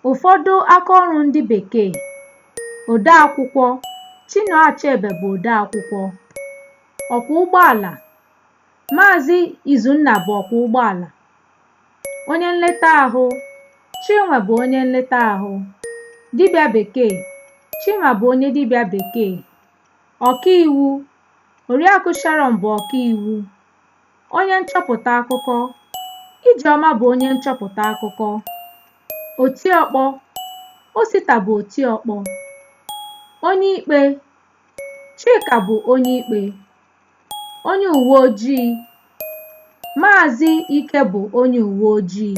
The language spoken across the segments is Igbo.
Ụfọdụ akaọrụ ndị Bekee odeakwụkwọ Chinua Achebe bụ odeakwụkwọ ọkwọ ụgbọala Maazị Izunna bụ ọkwọ ụgbọala onye nleta ahụ Chinwe bụ onye nleta ahụ dibịa bekee Chinwa bụ onye dibịa bekee ọkaiwu Oriakụ Sharon bụ ọkaiwu Onye nchọpụta akụkọ Ijeọma bụ onye nchọpụta akụkọ. Otiọkpọ Osita bụ otiọkpọ. Onye ikpe Chika bụ onye ikpe. Onye uwe ojii Maazị Ike bụ onye uwe ojii.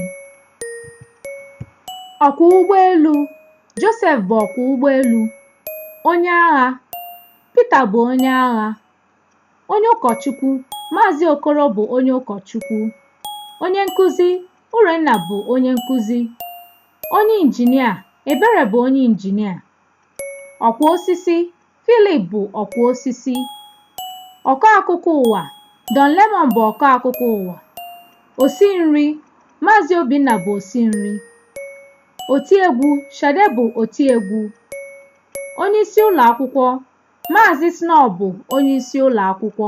Ọkwọ ụgbọelu Josef bụ ọkwọ ụgbọelu. Onye agha Pita bụ onye agha. Onye ụkọchukwu, Maazị Okoro bụ onye ụkọchukwu. Onye nkụzi, Urenna bụ onye nkụzi. Onye injinia, Ebere bụ onye injinia. Ọkwa osisi, Philip bụ ọkwa osisi. Ọkọ akụkọ ụwa, Don Lemon bụ ọkọ akụkọ ụwa. Osi nri, Maazị Obinna bụ osi nri. Otiegwu, Shade bụ otiegwu. Onye isi ụlọ akwụkwọ, Maazị Snow bụ onye isi ụlọ akwụkwọ.